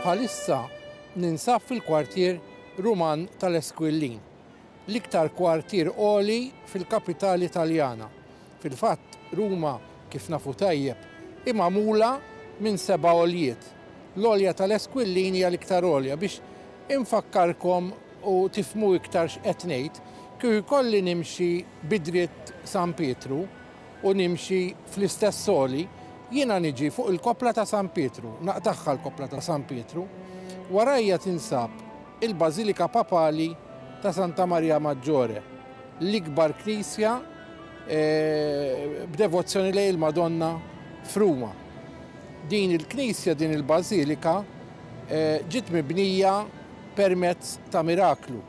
Bħalissa ninsab fil-kwartier Ruman tal-Esquilin. l-iktar kwartier għoli fil-kapitali Taljana. Fil-fatt, Ruma, kif nafu tajjeb, hi magħmula minn seba' għoljiet. L-għolja tal-Esquilin hija l-iktar għolja. Biex infakkarkom u tifhmu iktar x'qed ngħid, kieku jkolli nimxi bid-dritt San Pietru, u nimxi fl-istess soli, jiena niġi fuq il-koppla ta' San Pietru, naqtagħha l-koppla ta' San Pietru. Warajja tinsab il-Bażilika Papali ta' Santa Maria Maggiore, l-ikbar knisja b'devozzjoni lejn il-Madonna f'Ruma. Din il-knisja, din il-bażilika, ġiet mibnija permezz ta' miraklu.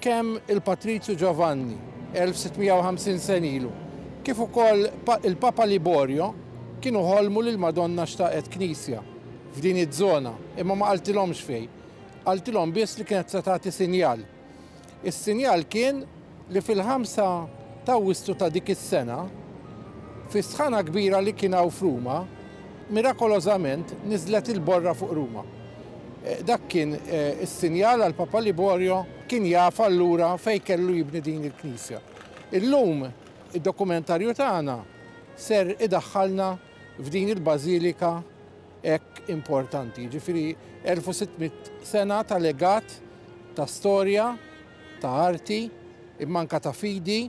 Kemm il-Patrizju Ġovanni, 1650 sena ilu, kif ukoll il-Papa Liborio kienu ħolmu li l-Madonna xtaqet knisja f'din iz-zona, imma ma qaltilhomx fejn. Qaltilhom biss li kienet se tagħti sinjal. Is-sinjal kien li fil-ħamsa t'Awwisstu ta' dik is-sena, fis-sħana kbira li kien hawn f'Ruma, Mirakolożament niżlet il-borra fuq Ruma. Dak kien is-sinjal għal Papa Liborio, kien jaf allura fejn kellu jibni din il-knisja. Illum id-dokumentarju tagħna ser idaħħalna f'din il-bażilika hekk importanti, jiġifieri 1600 sena ta' legat, ta' storja, ta' arti, imma anke ta' fidi,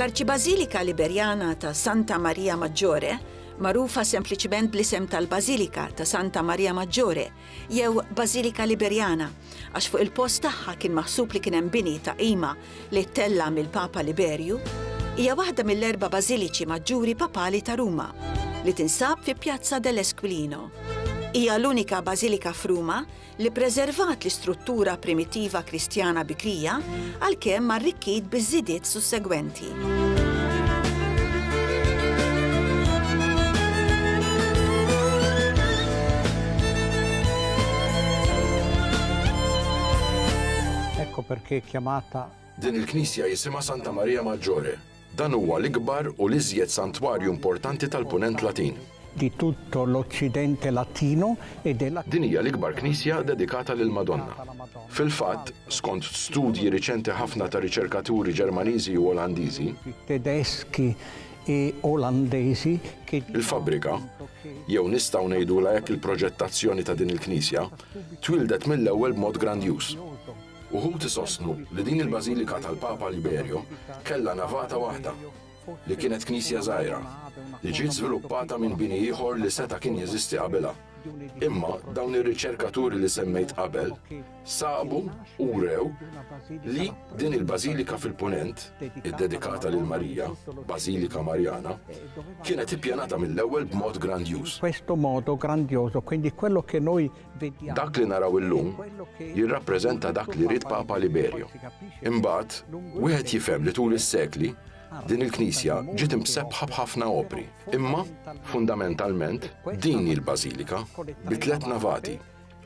L-Arċibażilika Liberjana ta' Santa Maria Maggiore, magħrufa sempliċiment bl-isem tal-Bażilika ta' Santa Maria Maggiore jew Bażilika Liberjana, għax fuq il-post tagħha kien maħsub li kien hemm bini ta' qima li ttella' mill-Papa Liberju, hija waħda mill-erba' bażiliċi maġġuri papali ta' Ruma, li tinsab fi Piazza dell'Esquilino. Hija l-unika bażilika f'Ruma li ppreservat l-istruttura primittiva Kristjana bikrija għalkemm arrikkit biż-żidiet sussegwenti. Perché è chiamata Din il-knisja jisimha Santa Maria Maggiore. Dan huwa l-ikbar u l-iżjed santwarju importanti tal-Punent Latin. di tutto l'Occidente latino e della. Din hija l-ikbar knisja dedikata lill-Madonna. Fil-fatt, skont studji riċenti ħafna ta' riċerkaturi Ġermaniżi u Olandiżi, tedeschi e olandesi che. il-fabbrika, jew nistgħu ngħidulha hekk il-proġettazzjoni ta' din il-knisja, twieldet mill-ewwel b'mod grandjuż. Uħud isostnu li din il-bażilika tal-Papa Liberio kellha navata waħda, li kienet knisja żgħira, li ġiet żviluppata minn bini ieħor li seta' kien jeżisti qabilha. Imma dawn ir-riċerkaturi li semmejt qabel sabu u wrew li din il-bażilika fil-Punent, iddedikata lil Marija, Bażilika Marjana, kienet ippjanata mill-ewwel b'mod grandjuż. Questo modo grandioso, quindi quello che noi vediamo. Dak li naraw illum jirrappreżenta dak li ried Papa Liberio. Imbagħad, wieħed jifhem li tul is-sekli din il-knisja ġiet imsebbħa b'ħafna opri. Imma, fundamentalment, din hi l-bażilika bi tliet navati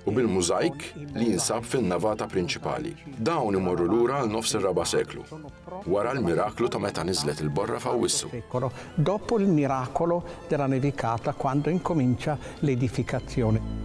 u bil-mużajk li jinsab fin-navata prinċipali. Dawn imorru lura għal nofs ir-raba' seklu, wara l-miraklu ta' meta niżlet il-borra f'Awwissu. Dopo il miracolo della nevicata quando incomincia l'edificazione.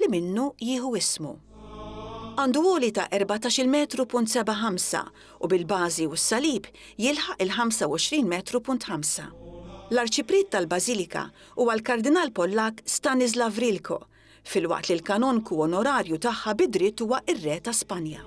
li minnu jieħu ismu. Għandu għoli ta' erbatax-il metru punt seba' ħamsa u bil-bażi u s-salib jilħaq il-ħamsa u għoxrin metru punt ħamsa. L-Arċipriet tal-Bażilika huwa l-Kardinal Pollakk Stanislaw Rilko, filwaqt li l-Kanonku Onorarju tagħha bi dritt huwa r-Re ta' Spanja.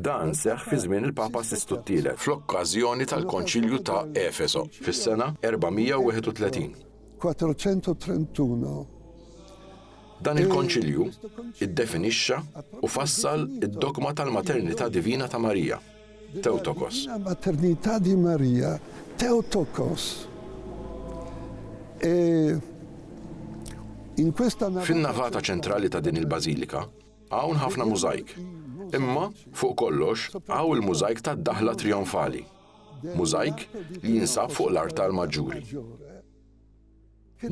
Dan seħħ fi żmien il-Papa Sistu t-Tielet fl-okkażjoni tal-Konċilju ta' Efeso fis-sena 431. 431. Dan il-Konċilju iddefinixxa u fassal id-dogma tal-maternità divina ta' Marija, Teotokos. Maternità di Marija, Teotokos. E Fin-navata ċentrali ta' din il-bażilika Hawn ħafna mużajk. Imma, fuq kollox, hawn il-mużajk tad-daħla trijonfali. Mużajk li jinsab fuq l-artal maġġuri.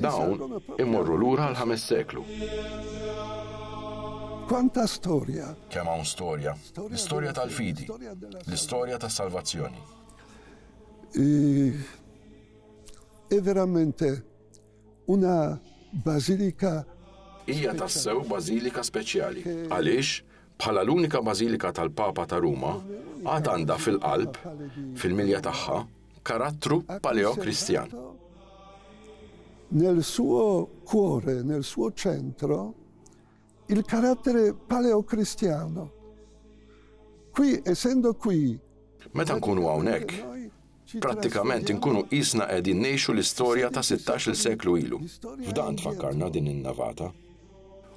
Dawn imorru lura għall-ħames seklu. Kwanta storja! Kemm hawn storja? L-istorja tal-fidi, l-istorja tas-salvazzjoni. I verament Una bażilika. Hija tassew bażilika speċjali għaliex, bħala l-unika bażilika tal-Papa ta' Ruma, għad għandha fil-qalb, fil-milja tagħha, karattru Paleokristjan. Nel suo cuore, nel suo centro, Il-carattere paleocristiano. Qui, essendo qui. Meta nkunu hawnhekk, prattikament inkunu qisna qegħdin ngħixu l-istorja ta' 16-il seklu ilu. F'dan tfakkarna din in-navata.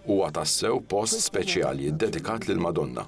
Huwa tassew post speċjali ddedikat lill-Madonna.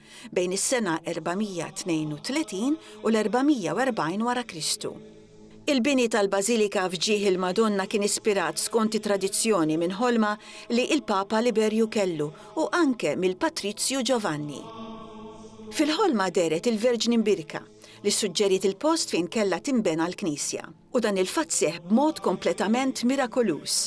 bejn is-sena 432 u l-440 wara Kristu. Il-bini tal-Bażilika f'ġieħ il-Madonna kien ispirat skont it-tradizzjoni minn ħolma li l-Papa Liberju kellu u anke mill-Patrizju Ġovanni. Fil-ħolma dehret il-Verġni Mbierka, li ssuġġeriet il-post fejn kellha tinbena l-knisja. U dan il-fatt seħħ b'mod kompletament mirakoluż.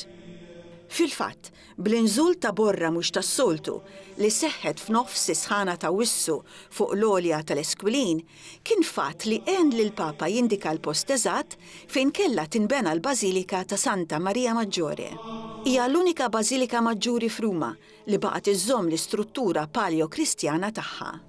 Fil-fatt, bl-inżul ta' borra mhux tas-soltu li seħħet f'nofs is-sħana t'Awwissu fuq l-għolja tal-Esquilin, kien fatt li għen lill-Papa jindika l-post eżatt fejn kellha tinbena l-Bażilika ta' Santa Maria Maggiore. Hija l-unika bażilika maġġuri f'Ruma li baqgħet iżżomm l-istruttura Paleokristjana tagħha.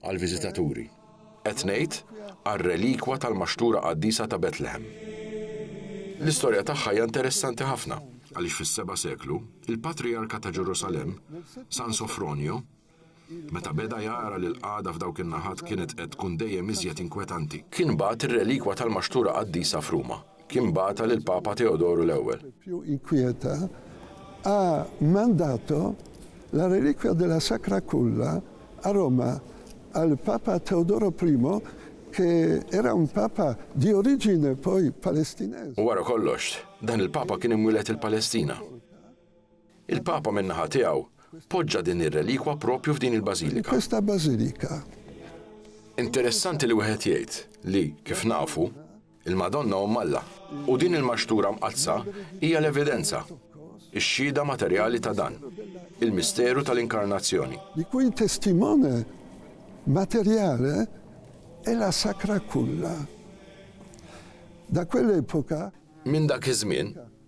għall-viżitaturi. Qed ngħid, għar-relikwa tal-Maxtura Qaddisa ta' Betlehem. L-istorja tagħha hija interessanti ħafna, għaliex fis-seba' seklu, il-Patrijarka ta' Ġerusalemm, San Sofronio, meta beda jara li l-qagħda f'dawk in-naħat kienet qed tkun dejjem iżjed inkwetanti, kien bagħat ir-relikwa tal-Maxtura Qaddisa f'Ruma kien bagħatha lill-Papa Teodoru l-Ewwel. più inquieta, ha mandato la reliquia della Sacra Culla a Roma al Papa Teodoro I che era un Papa di origine poi palestinese. U wara kollox, dan il-Papa kien imwieled il-Palestina. Il-Papa min-naħa tiegħu poġġa din ir-relikwa proprju f'din il-bażilika. In questa basilica. Interessanti li wieħed jgħid li, kif nafu, Il-Madonna Omm Alla. U din il-maxtura mqaddsa hija l-evidenza, ix-xhieda materjali ta' dan, il-misteru tal-Inkarnazzjoni. Di cui testimone materiale è la Sacra Culla. Da quell'epoca. Minn dak iż-żmien,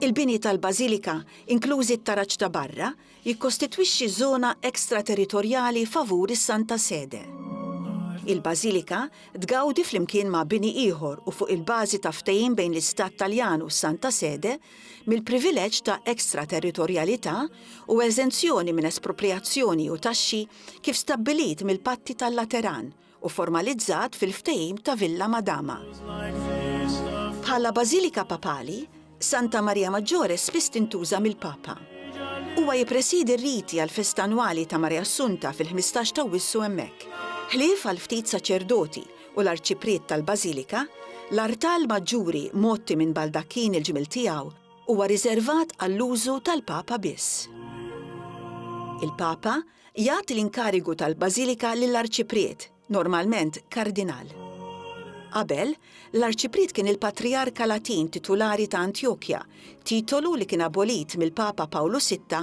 Il-bini tal-Bażilika, inklużi t-taraġ ta' barra, jikkostitwixxi żona ekstraterritorjali favur is-Santa Sede. Il-Bażilika tgawdi flimkien ma' bini ieħor u fuq il-bażi ta' ftehim bejn l-Istat Taljan u s-Santa Sede mill-privileġġ ta' ekstraterritorjalità u eżenzjoni minn esproprijazzjoni u taxxi kif stabbilit mill-Patti tal-Lateran u formalizzat fil-Ftehim ta' Villa Madama. Bħala bażilika papali, Santa Maria Maggiore spiss tintuża mill-Papa. Huwa jippresiedi r-riti għall-festa annwali ta' Maria Assunta fil-15 ta' Awwissu hemmhekk. Ħlief għal ftit saċerdoti u l-arċipriet tal-bażilika, l-artal maġġuri mgħotti minn baldakkin il-ġmiel tiegħu huwa riżervat għall-użu tal-Papa biss. Il-Papa jagħti l-inkarigu tal-Bażilika lill-Arċipriet, normalment Kardinal. Qabel, l-Arċipriet kien il-Patrijarka Latin titulari ta' Antjokja, titolu li kien abolit mill-Papa Pawlu Sitta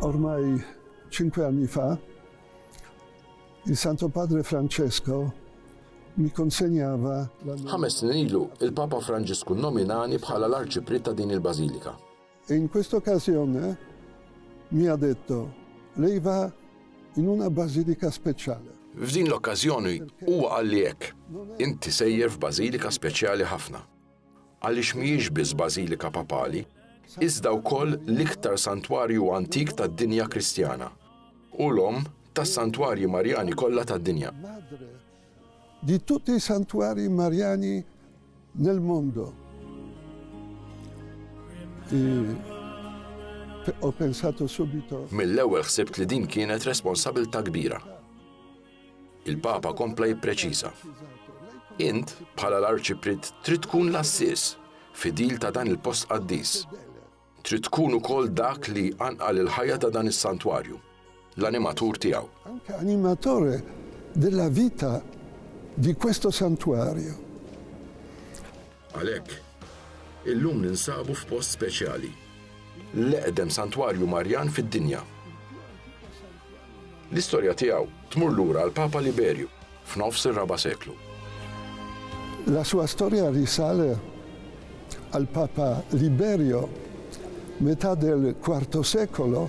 Ormai cinque anni fa, il Santo Padre Francesco mi consegnava la Ħames snin ilu, il-Papa Franġisku nnominani bħala l-Arċipri ta' din il-Bażilika. In quest'occasione mi ha detto, Lei va in una basilica speciale. F'din l-okkażjoni huwa qalli hekk, Inti sejjer f'bażilika speċjali ħafna. Għaliex mhijiex biss bażilika papali, iżda wkoll l-iktar santwarju antik tad-dinja Kristjana, u l-omm tas-santwarji Marjani kollha tad-dinja. di tutti i santuari mariani nel mondo. E ho pensato subito. Mill-ewwel ħsibt li din kienet responsabilità kbira. Il-Papa kompla jippreċiża. Int, bħala l-arċiprit, trid tkun l-assis fidil ta' dan il-post qaddis. Trid tkun ukoll dak li jqanqal il-ħajja ta' dan is-santwarju, l-animatur tiegħu. Anche animatore della vita di questo santuario. Għalhekk, illum ninsabu f'post speċjali. L-eqdem santwarju Marjan fid-dinja. L-istorja tiegħu tmur lura għall-Papa Liberju f'nofs ir-raba' seklu. La sua storia risale al Papa Liberio, metà del IV secolo,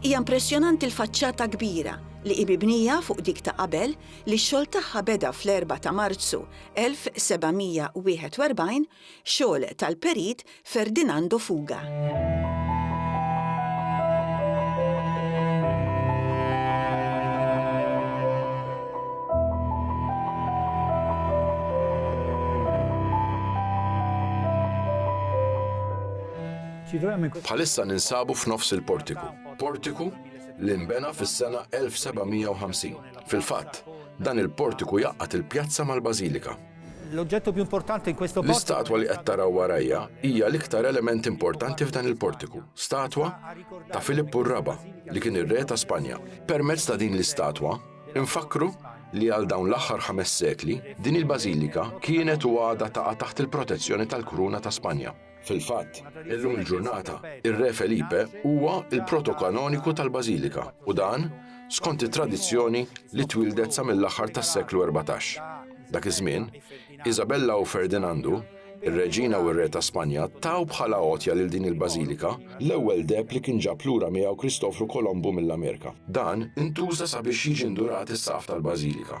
Hija impressjonanti l-faċċata kbira, li hi mibnija fuq dik ta' qabel, li x-xogħol tagħha beda fl-4 ta' Marzu 1741, xogħol tal-Perit Ferdinando Fuga. Bħalissa ninsabu f'nofs il-portiku, portiku li nbena fis-sena 1750. Fil-fatt, dan il-portiku jgħaqqad il-pjazza mal-bażilika. L-istatwa li qed taraw warajja hija l-iktar element importanti f'dan il-portiku, statwa ta' Filippu r-Raba', li kien ir-re ta' Spanja. Permezz ta' din l-istatwa, infakkru li għal dawn l-aħħar ħames sekli, din il-bażilika kienet u għadha taqa' taħt il-protezzjoni tal-Kruna ta' Spanja. Fil-fatt, illum il-ġurnata, ir-Re Felipe huwa l-protokanoniku tal-bażilika u dan skont it-tradizzjoni li twieldet sa mill-aħħar tas-seklu erbatax. Dak iż-żmien, Isabella u Ferdinandu, ir-Reġina u r-Re ta' Spanja taw bħala għotja lil din il-bażilika l-ewwel deheb li kien ġab lura miegħu Kristofru Kolombu mill-Amerika. Dan intuża sabiex jiġi ndurat is-saqaf tal-bażilika.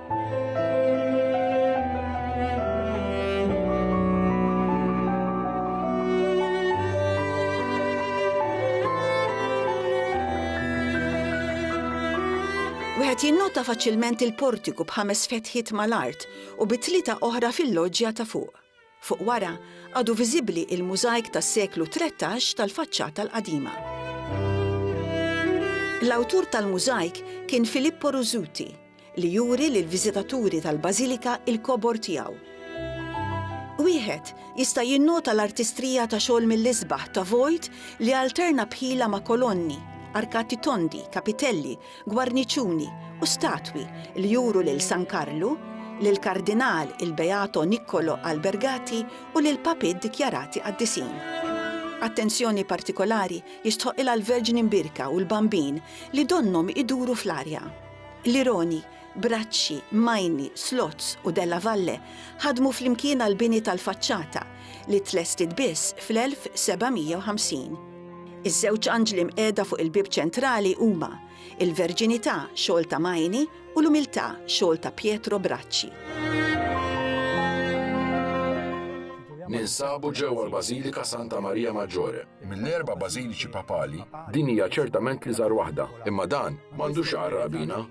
Wieħed jinnota faċilment il-portiku b'ħames fetħiet mal-art u bi tlieta oħra fil-loġja ta' fuq. Fuq wara, għadu viżibbli il-mużajk tas-seklu trettax tal-faċċata l-qadima. L-awtur tal-mużajk kien Filippo Rusuti, li juri lill-viżitaturi tal-bażilika l-kobor tiegħu. Wieħed jista' jinnota l-artistrija ta' xogħol mill-isbaħ ta' vojt li alterna bħila ma' kolonni, arkati tondi, kapitelli, gwarniċuni u statwi li juru lil San Karlu, lill-Kardinal il-Beato Niccolo Albergati u lill-Papiet dikjarati qaddisin. Attenzjoni partikolari jistħoqqilha l-Verġni Mbierka u l-Bambin li donnhom iduru fl-arja. Lironi, Bracci, Maini, Slots u Della Valle ħadmu flimkien għall-bini tal-faċċata, li tlestiet biss fl-1750. Iż-żewġ anġli mqiegħda fuq il-bieb ċentrali huma, il-verġinità, xogħol ta' Majni, u l-umiltà, xogħol ta' Pietro Bracci. ninsabu ġewwa l-Bażilika Santa Maria Maggiore. Mill-erba' bażiliċi papali, din hija ċertament li żar waħda, imma dan m'għandux jaqra bina,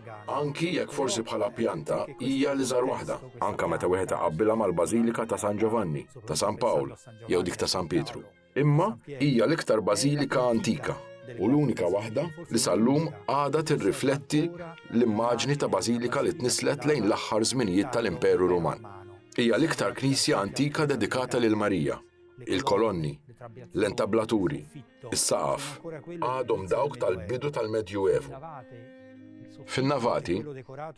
anki jekk forsi bħala pjanta hija li żar waħda, anke meta wieħed qabbilha mal-Bażilika ta' San Ġovanni, ta' San Pawl, jew dik ta' San Pietru. Imma hija l-iktar bażilika antika u l-unika waħda li sal-lum għadha tirrifletti l-immaġni ta' bażilika li tnisslet lejn l-aħħar żminijiet tal-Imperu Ruman. Hija l-iktar knisja antika dedikata lil Marija. Il-kolonni, l-entablaturi, is-saqaf għadhom dawk tal-bidu tal-Medjuevu. Fin-navati,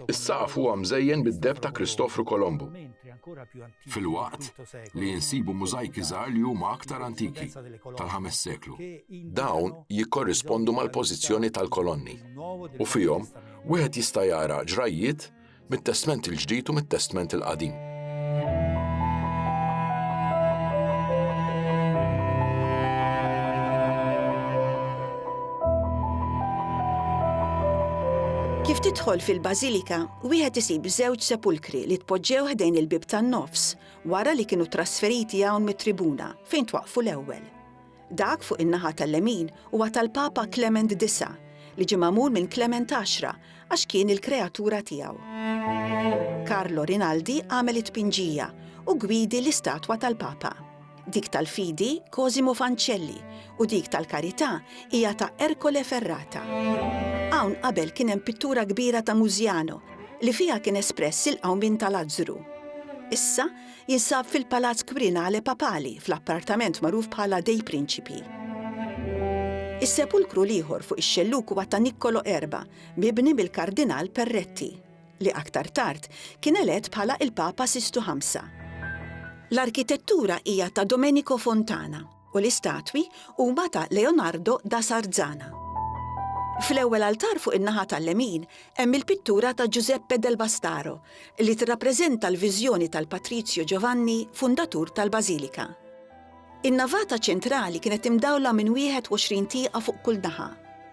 is-saqaf huwa mżejjen bid-deheb ta' Kristofru Kolombu. filwaqt li insibu mużajki żgħar li huma aktar antiki, tal-ħames seklu. Dawn jikkorrispondu mal-pożizzjoni tal-kolonni, u fihom wieħed jista' jara ġrajjiet mit-Testment il-Ġdid u mit-Testment il-Qadim. Kif tidħol fil-bażilika, Wieħed isib żewġ sepulkri li tpoġġew ħdejn il-bieb tan-nofs, wara li kienu trasferiti hawn mit-tribuna fejn twaqqfu l-ewwel. Dak fuq in-naħa tal-lemin huwa tal-Papa Klement Disa', li ġie magħmul minn Klement Għaxra għax kien il-kreatura tiegħu. Carlo Rinaldi għamel it-tpinġija u Guidi l-istatwa tal-Papa. Dik tal-fidi, Cosimo Fancelli, u dik tal-karità hija ta' Ercole Ferrata. Hawn qabel kien hemm pittura kbira ta' Muziano li fiha kien espress il-qawmien ta' Lazzru. Issa jinsab fil-Palazz Quirinale Papali fl-appartament magħruf bħala dei Principi. Is-sepulkru l-ieħor fuq ix-xellug huwa ta' Niccolo Erba, mibni mill-Kardinal Perretti. li aktar tard kien elett bħala il-Papa Sistu Ħamsa. L-arkitettura hija ta' Domenico Fontana u l-istatwi huma ta' Leonardo da Sarzana. Fl-ewwel altar fuq in-naħa tal-lemin hemm il-pittura ta' Giuseppe del Bastaro li tirrappreżenta l-viżjoni tal-Patrizju Giovanni, fundatur tal-bażilika. In-navata ċentrali kienet imdawla minn 21 tieqa fuq kull naħa.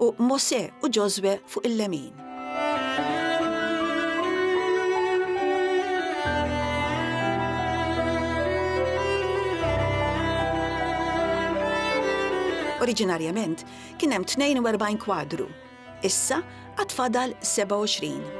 u Mosè u Ġożwè fuq il-lemin. Oriġinarjament kien hemm 42 kwadru, issa għad fadal 27.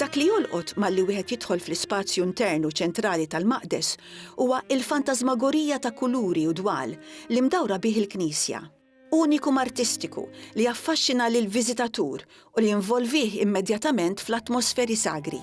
Dak li jolqot malli wieħed jidħol fl-ispazju internu ċentrali tal-maqdes huwa il-fantasmagorija ta' kuluri u dwal li mdawra bih il-knisja. unikum artistiku li jaffaxxina lill-viżitatur u li jinvolvih immedjatament fl-atmosferi sagri.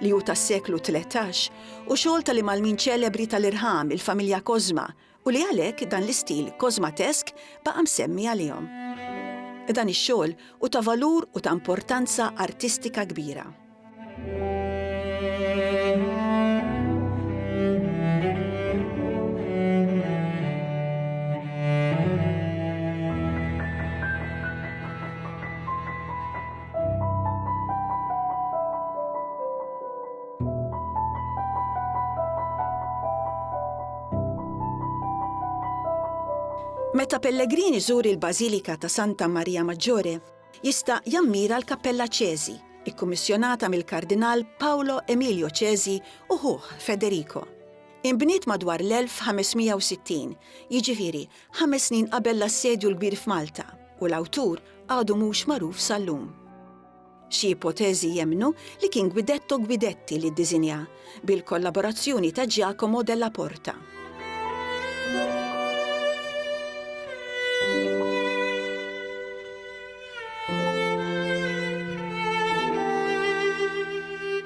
li hu tas-seklu tletax, u xogħol ta' l-imgħallmin ċelebri ta' l-irħam, il-familja Cosma, u li għalhekk dan l-istil Cosmatesk baqa' msemmi għalihom. Dan ix-xogħol hu ta' valur u ta' importanza artistika kbira. Meta pellegrini żuri l-Bażilika ta' Santa Maria Maggiore, jista' jammira l-Kappella Ċezi, ikkummissjonata mill-Kardinal Paolo Emilio Ċezi u ħuh Federico. Inbniet madwar l-1560, jiġifieri ħames snin qabel l-assedju l-kbir f'Malta, u l-awtur għadu mhux magħruf sal-lum. Xi ipoteżi jemmnu li kien Guidetto Guidetti li ddiżinja bil-kollaborazzjoni ta' Giacomo della Porta.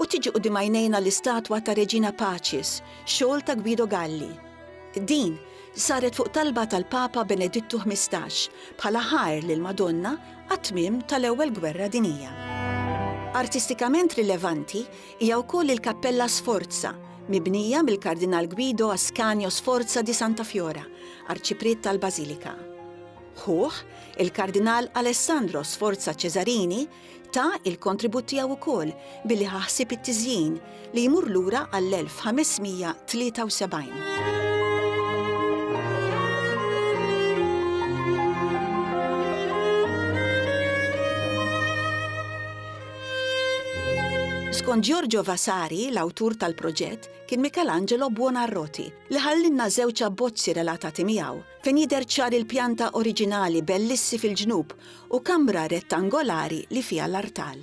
U tiġi quddiem għajnejna l-istatwa ta' Regina Pacis, xogħol ta' Guido Galli. Din, saret fuq talba tal-Papa Benedittu Ħmistax, bħala ħajr lill-Madonna għat-tmiem tal-Ewwel Gwerra Dinjija. Artistikament rilevanti hija wkoll il-Kappella Sforza, mibnija mill-Kardinal Guido Ascanio Sforza di Santa Fiora, Arċipriet tal-Bażilika. Ħuh, il-Kardinal Alessandro Sforza Cesarini, Ta l-kontribut tiegħu wkoll billi ħa ħsieb it-tiżjin li jmur lura għall-1573. Skont Giorgio Vasari, l-awtur tal-proġett, kien Michelangelo Buonarroti li ħallinna żewġ abbozzi relatati miegħu, fejn jidher ċar il-pjanta oriġinali b'ellissi fil-ġnub u kamra rettangolari li fiha l-artal.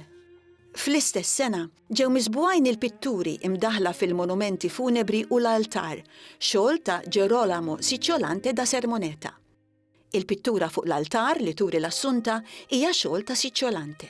Fl-istess sena, ġew miżbugħin il-pitturi imdaħħla fil-monumenti funebri u l-altar, xogħol ta' Gerolamo Cicciolanti da Sermoneta. Il-pittura fuq l-altar li turi l-Assunta hija xogħol ta' Cicciolanti.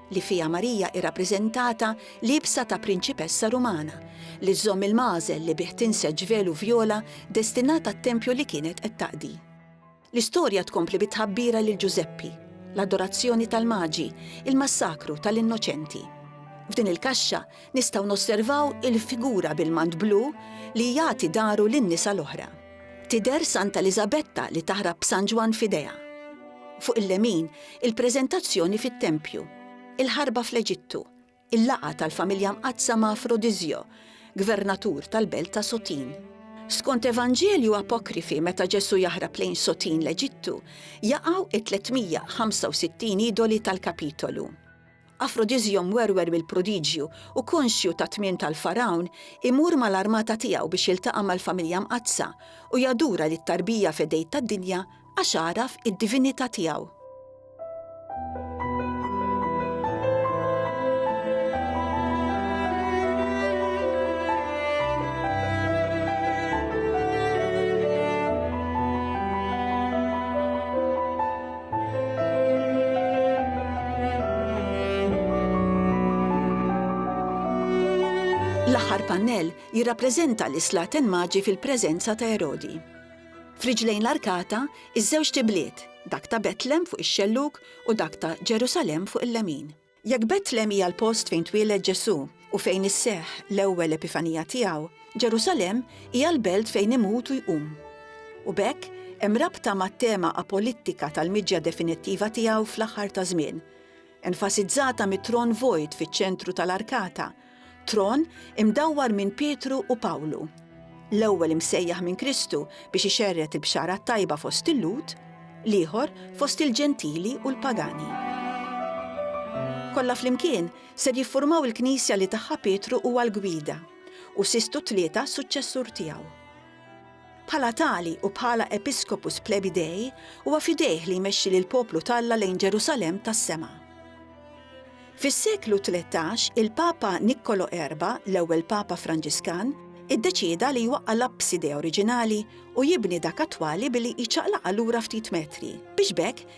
li fiha Marija hi rappreżentata liebsa ta' prinċipessa Rumana, li żżomm il-magħżel li bih tinseġ velu vjola destinat għat-tempju li kienet qed taqdi. L-istorja tkompli bit-tħabbira lil Ġużeppi, l-adorazzjoni tal-Maġi, il-massakru tal-innoċenti. F'din il-kaxxa nistgħu nosservaw il-figura bil-mant blu li jagħti dahru lin-nisa l-oħra. Tidher Santa Eliżabetta li taħrab b'San Ġwann f'idejha. Fuq il-lemin, il-preżentazzjoni fit-tempju, il-ħarba fl-Eġittu, il-laqgħa tal-familja mqaddsa ma' Afrodisio, gvernatur tal-belt ta' Sotin. Skont evanġelju apokrifi meta Ġesù jaħrab lejn Sotin l-Eġittu, jaqgħu t-365 idoli tal-kapitolu. Afrodiżjom werwer mill-prodiġju u konxju tat-tmiem tal-Fargħun, imur mal-armata tiegħu biex jiltaqa' mal-familja mqaddsa u jadura lit-tarbija fedej tad-dinja għax għaraf id-divinità tiegħu. L-aħħar pannell jirrappreżenta l-islaten maġi fil-preżenza ta' Erodi. Friġlejn l-arkata, iż-żewġ tibliet, dak ta' Betlem fuq ix-xellug u dak ta' Ġerusalemm fuq il-lemin. Jekk Betlehem hija l-post fejn twieled Ġesù u fejn isseħħ l-ewwel Epifanija tiegħu, Ġerusalemm hija l-belt fejn imut u jqum. U b'hekk hemm rabta mat-tema apolittika tal-miġja definittiva tiegħu fl-aħħar taż-żmien, enfasizzata mit-tron vojt fiċ-ċentru tal-arkata, Tron imdawwar minn Pietru u Pawlu, l-ewwel imsejjaħ minn Kristu biex ixerred il-Bxara t-Tajba fost il-Lhud, l-ieħor fost il-Ġentili u l-pagani. Kollha flimkien ser jiffurmaw il-Knisja li tagħha Pietru huwa l-gwida, u Sistu t-Tlieta suċċessur tiegħu. Bħala tali u bħala Episcopus Plebi Dei, huwa f'idejh li jmexxi lill-poplu t'Alla lejn Ġerusalemm tas-sema. Fis-seklu tlettax, il-Papa Nikkolo Erba', l-ewwel Papa Franġiskan, iddeċieda li jwaqqa' l-apside oriġinali u jibni dak attwali billi jċaqlaqha lura ftit metri, biex b'hekk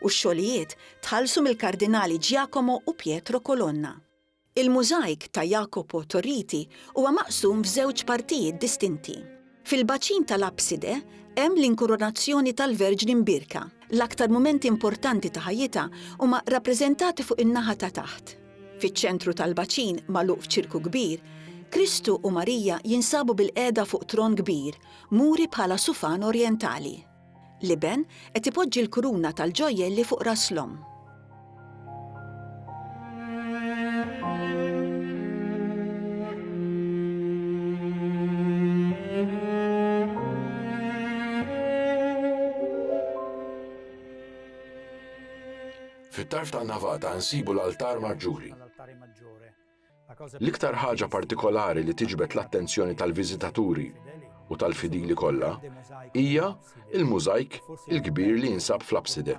u x-xogħlijiet tħallsu mill-Kardinali Giacomo u Pietro Colonna. Il-mużajk ta' Jacopo Torriti huwa maqsum f'żewġ partijiet distinti. Fil-baċin tal-apside hemm l-Inkurunazzjoni tal-Verġni Mbierka. L-aktar mumenti importanti ta' ħajjitha huma rappreżentati fuq in-naħa ta' taħt. Fiċ-ċentru tal-baċin, magħluq f'ċirku kbir, Kristu u Marija jinsabu bilqiegħda fuq tron kbir, muri bħala sufan orjentali. L-iben qed ipoġġi l-kuruna tal-ġojjelli fuq ras l-omm. Fit-tarf ta' navata nsibu l-altar maġġuri. L-iktar ħaġa partikolari li tiġbed l-attenzjoni tal-viżitaturi u tal-fidili kollha hija l-mużajk il-kbir li jinsab fl-apside.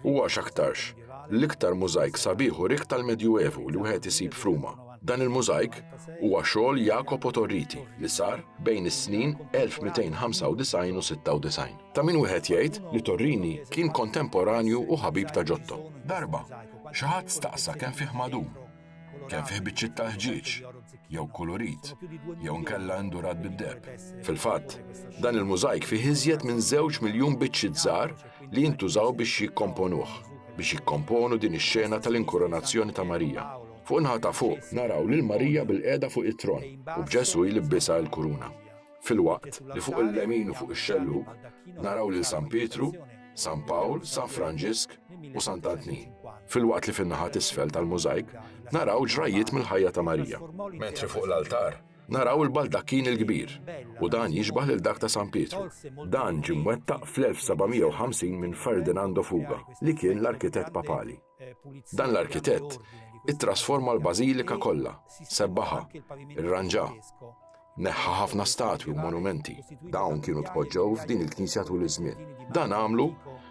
Huwa x'aktarx l-iktar mużajk sabiħ u rikk tal-Medjuevu li wieħed isib f'Ruma. Dan il-mużajk huwa xogħol Jacopo Torriti li sar bejn is-snin 1295 u 96. Ta' min wieħed jgħid li Torrini kien kontemporanju u ħabib ta' Giotto. Darba, xi ħadd staqsa kemm fih madum. kemm fih biċċiet tal-ħġieġ, jew kulurit, jew inkella indurat bid-deheb. Fil-fatt, dan il-mużajk fih iżjed minn żewġ miljun biċċiet żgħar li jintużaw biex jikkomponuh, biex jikkomponu din ix-xena tal-inkuronazzjoni ta' Marija. Fuq in-naħa ta' fuq, naraw lil Marija bilqiegħda fuq it-tron u b'Ġesù jlibbisha l-kuruna. Filwaqt li fuq il-lemin u fuq ix-xellug naraw lil San Pietru, San Pawl, San Franġisk u Sant'Antnin. Filwaqt li fin-naħa t'isfel tal-mużajk naraw ġrajjiet mill-ħajja ta' Marija. Mentri fuq l-altar naraw il-baldakkin il-kbir u dan jixbah lil dak ta' San Pietru. Dan ġie mwettaq fl-1750 minn Ferdinando Fuga li kien l-arkitett papali. Dan l-arkitett ittrasforma l-bażilika kollha, sebbaħha, irranġa, neħħa ħafna statwi u monumenti. Dawn kienu tpoġġew f'din il-knisja tul iż-żmien. Dan għamlu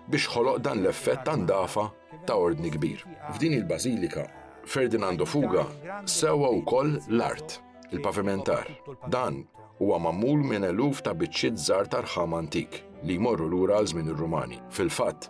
biex ħoloq dan l-effett ta' ndafa ta' ordni kbir. F'din il-bażilika, Ferdinando Fuga sewwa wkoll l-art, il-pavimentar. Dan huwa magħmul minn eluf ta' biċċiet żgħar ta' rħam antik li jmorru lura għal żmien ir-Rumani. Fil-fatt,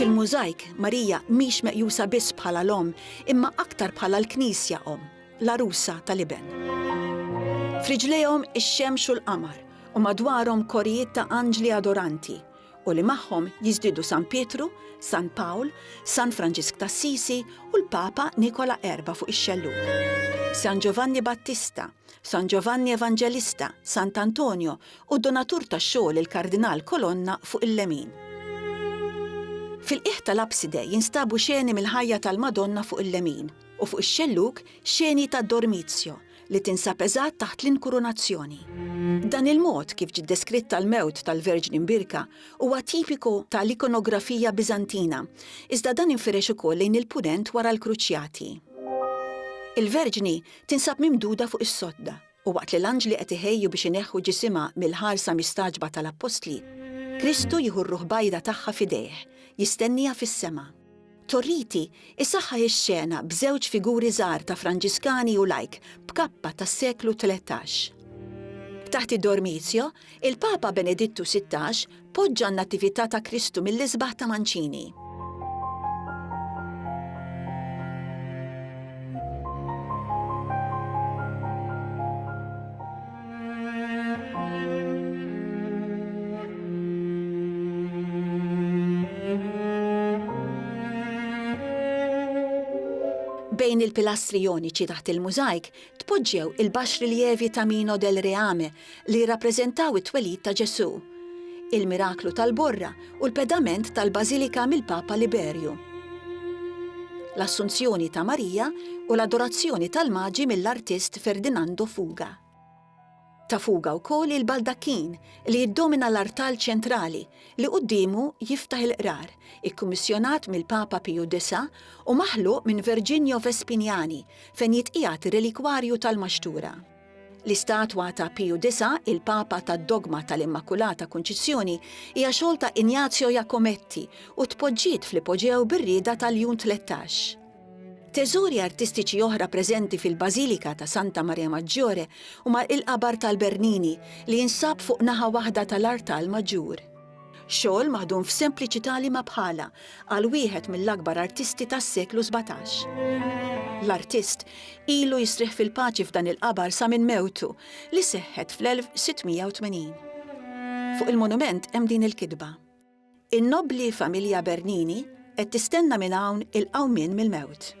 Fil-mużajk, Marija mhix meqjusa biss bħala l-omm, imma aktar bħala l-Knisja omm, l-arusa tal-iben. Friġlejhom ix-xemx u l-qamar, u madwarhom korijiet ta' anġli adoranti, u li magħhom jiżdiedu San Pietru, San Pawl, San Franġisk t'Assisi u l-Papa Nikola Erba' fuq ix-xellug. San Ġovanni Battista, San Ġovanni Evanġelista, Sant' Antonio u d-donatur tax-xogħol il-Kardinal Colonna fuq il-lemin. Fil-qiegħ tal-abside jinstabu xeni mill-ħajja tal-Madonna fuq il-lemin u fuq ix-xellug xeni tad-Dormizio, li tinsab eżatt taħt l-inkurunazzjoni. Dan il-mod kif ġie deskritt tal-mewt tal-Verġni Mbierka huwa tipiku ta' l-ikonografija Biżantina, iżda dan infirex ukoll lejn il-Punent wara l-Kruċjati. Il-Verġni tinsab mimduda fuq is-sodda, u waqt li l-anġli qed iħejju biex ineħħu ġisimha mill-ħarsa mistagħġba ta' l-appostli, Kristu jieħu r-ruħ bajda tagħha f'idejh, jistenniha fis-sema. Torriti isaħħaħ ix-xena b'żewġ figuri żgħar ta' Franġiskani u lajk b'kappa tas-seklu tlettax. Taħt id-Dormitio, il-Papa Benedittu Sittax poġġa n-Natività ta' Kristu mill-isbaħ ta' Mancini. Bejn il-pilastri joniċi taħt il-mużajk tpoġġew il-baxriljevi ta' Mino del Reame li jirrappreżentaw it-twelid ta' Ġesù, il-miraklu tal-borra u l-pedament tal-Bażilika mill-Papa Liberju, l-Assunzjoni ta' Marija u l-Adorazzjoni tal-Maġi mill-artist Ferdinando Fuga. Ta' Fuga wkoll il-baldakkin li jiddomina l-artal ċentrali li quddiemu jiftaħ il-qrar, ikkummissjonat mill-Papa Piju Disa' u maħluq minn Virginio Vespignani fejn jitqiegħed ir-relikwarju tal-Maxtura. L-istatwa ta' Piju Disa', il-Papa tad-dogma tal-Immakulata Kunċizzjoni, hija xogħol ta' Ignazio Iacometti u tpoġġiet fl-ipoġew bir-rieda ta' Ljun Tlettax. Teżori artistiċi oħra preżenti fil-Bażilika ta' Santa Maria Maggiore huma il-qabar tal-Bernini li jinsab fuq naħa waħda tal-artal maġġur. Xogħol maħdum f'sempliċità li ma bħalha għal wieħed mill-akbar artisti tas-seklu sbatax. L-artist ilu jisriħ fil-paċi f'dan il-qabar sa minn mewtu li seħħet fl-1680. Fuq il-monument hemm din il-kitba. In-nobbli familja Bernini qed tistenna minn hawn il-qawmien mill-mewt.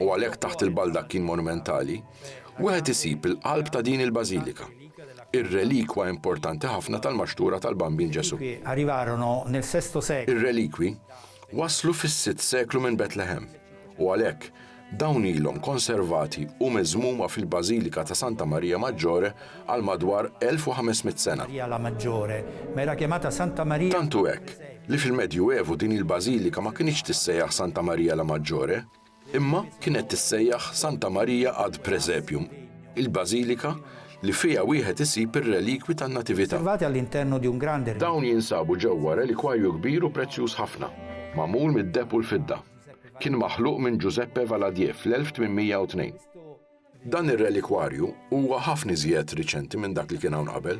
u għalhekk taħt il-baldakkin monumentali, wieħed isib il-qalb ta' din il-bażilika, ir-relikwa importanti ħafna tal-maxtura tal-Bambin Ġesù. Ir-relikwi waslu fis-sitt seklu minn Betlehem, u għalhekk dawn ilhom konservati u miżmuma fil-Bażilika ta' Santa Maria Maggiore għal madwar 1500 sena. Tant hu hekk, li fil-Medju Evu din il-bażilika ma kinitx tissejjaħ Santa Maria la Maggiore, imma kienet tissejjaħ Santa Maria ad Presepium, il-bażilika li fiha wieħed isib ir-relikwi tan-Natività. Dawn jinsabu ġewwa relikwarju kbir u prezzjuż ħafna, magħmul mid-deheb u l-fidda. Kien maħluq minn Giuseppe Valadier fl-1802. Dan ir-relikwarju huwa ħafna iżjed riċenti minn dak li kien hawn qabel,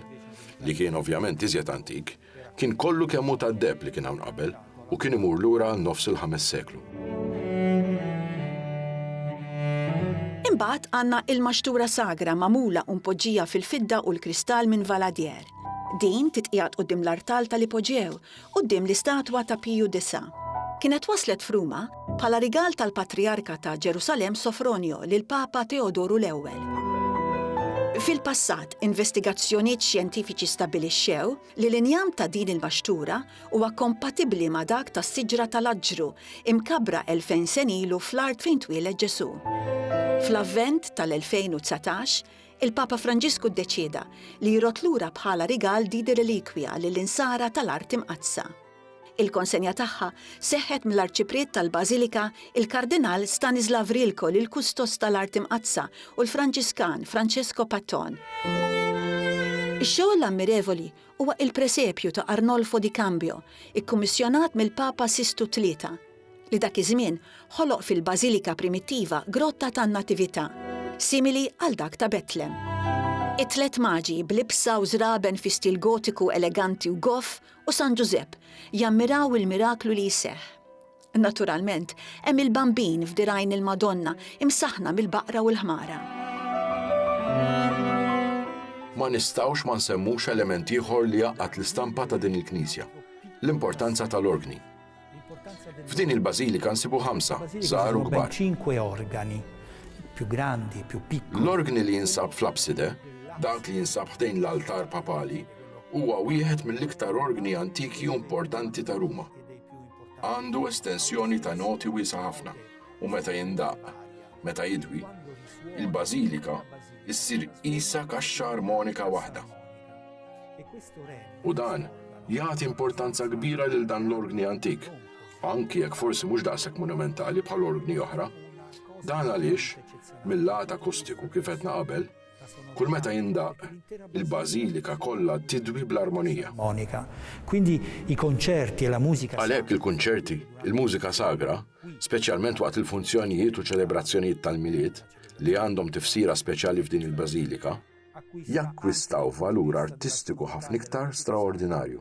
li kien ovvjament iżjed antik, kien kollu kemm hu tad-deheb li kien hawn qabel u kien imur lura għal nofs il-ħames seklu. Imbagħad għandna il-maxtura sagra magħmula u mpoġġija fil-fidda u l-kristall minn Valadier. Din titqiegħed quddiem l-artal tal-ipoġew quddiem l-istatwa ta' Piju Disa'. Kienet waslet f'Ruma bħala rigal tal-Patrijarka ta' Ġerusalemm Sofronio lill-Papa Teodoru l-Ewwel. Fil-passat, investigazzjonijiet xjentifiċi stabbilixxew li l-injam ta' din il-maxtura huwa kompatibbli ma' dak tas-siġra tal-aġru, imkabbra elfejn sen ilu fl-art fejn twieled Ġesù. Fl-Avvent tal-2019, Il-Papa Franġisku ddeċieda li jrodd lura bħala rigal di reliquia lill-Insara tal-Art Imqaddsa. Il-konsenja tagħha seħħet mill-Arċipriet tal-Bażilika, il-Kardinal Stanislav Rilko lill-Kustos tal-Art Imqaddsa u l-Franġiskan Francesco Patton. Ix-xogħol ammirevoli huwa Il-Presepju ta' Arnolfo di Cambio, ikkummissjonat mill-Papa Sistu Tlieta. li dak iż-żmien ħoloq fil-bażilika primittiva grotta tan-Natività, simili għal dak ta' Betlem. It-tliet Maġi, b'libsa u żraben fi stil Gotiku eleganti u goff, u San Ġużepp, jammiraw il-miraklu li jseħħ. Naturalment, hemm il-Bambin f'dirgħajn il-Madonna, imsaħħna mill-baqra u l-ħmara. Ma nistgħux ma nsemmux element ieħor li jgħaqqad l-istampa ta' din il-knisja, l-importanza tal-orgni. F'din il-bażilika nsibu ħamsa, żgħar u kbar. L-orgni li jinsab fl-apside, dak li jinsab ħdejn l-altar papali, huwa wieħed mill-iktar orgni antiki u importanti ta' Ruma. Għandu estensjoni ta' noti wiesa' ħafna u meta jindaqq meta jidwi, il-bażilika ssir qisha kaxxa armonika waħda. U dan jagħti importanza kbira lil dan l-orgni antik, anki jekk forsi mhux daqshekk monumentali bħal orgni oħra. Dan għaliex, mill-lat akustiku kif qedna qabel, Kull meta jindaqq, il-bażilika kollha tidwi bl-armonija. Għalhekk il-kunċerti, il-mużika sagra, speċjalment waqt il-funzjonijiet u ċelebrazzjonijiet tal-Milied, li għandhom tifsira speċjali f'din il-bażilika, jakkwistaw valur artistiku ħafna iktar straordinarju.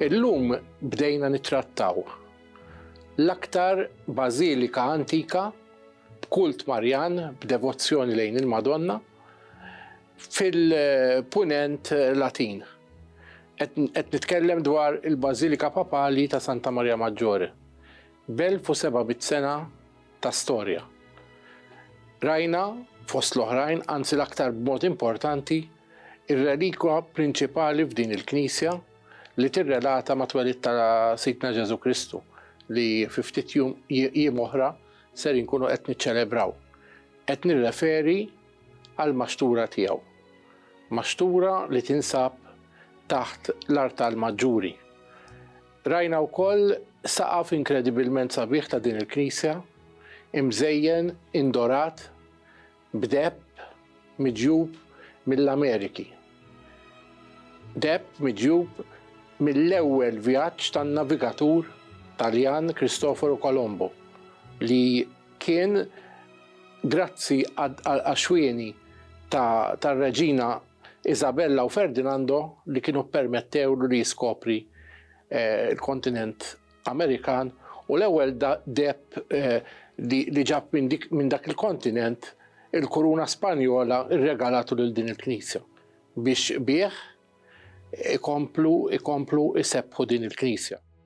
Illum bdejna nittrattaw l-aktar bażilika antika b'kult Marjan, b'devozzjoni lejn il-Madonna, fil-Punent Latin. Qed qed nitkellem dwar il-Bażilika Papali ta' Santa Marija Maggiore. B'elf u seba' mitt sena, ta' storja. Rajna, fost l-oħrajn, anzi l-aktar b'mod importanti, ir-relikwa prinċipali f'din il-knisja li tirrelata mat-twelid ta' Sidna Ġesù Kristu li fi ftit jiem oħra ser inkunu qed niċċelebraw. Qed nirreferi għall-maxtura tiegħu. Maxtura li tinsab taħt l-artal maġġuri. Rajna wkoll saqaf inkredibilment sabiħ ta' din il-knisja, imżejjen, indorat, b'dehb miġjub mill-Ameriki. Dehb miġjub mill-ewwel vjaġġ tan-navigatur Taljan Kristoforu Kolombo li kien grazzi għax-xwieni tar-Reġina Isabella u Ferdinando li kienu ppermettewlu li jiskopri l-kontinent Amerikan u l-ewwel deheb li ġab minn dak il-kontinent il-kuruna Spanjola rregalatu lil din il-knisja biex bih ikomplu ikomplu jsebbħu din il-knisja.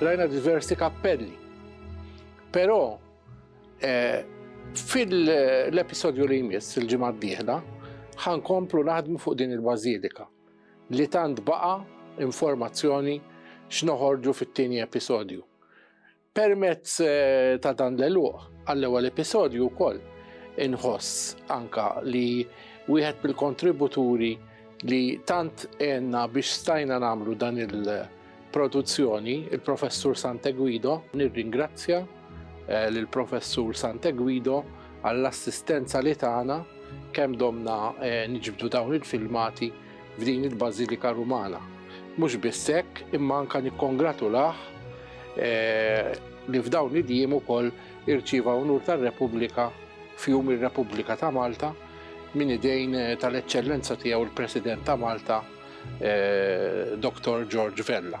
Rajna diversi kappelli. Però eh, fil-episodju li jmiss il-ġimgħa d-dieħla ħankomplu naħdmu fuq din il-bażilika li tant baqa' informazzjoni x'noħorġu fit-tieni episodju. Permezz ta' dan l-eluq għall-ewwel episodju wkoll inħoss anka li wieħed mill-kontributuri li tant għenna biex stajna namlu dan il-produzzjoni, il-professur Santeguido, nirringrazzja eh, l-professur Santeguido għall-assistenza li tagħna kemm domna eh, niġbdu dawn il-filmati f'din il-Bażilika Rumana. Mhux biss hekk, imma anke nikkongratulaħ eh, li f'dawn il-jiem ukoll irċieva unur tar-Repubblika f'jum ir-Repubblika ta' Malta minn idejn eh, tal-eċċellenza tiegħu l-President ta' Malta eh, Dr. George Vella.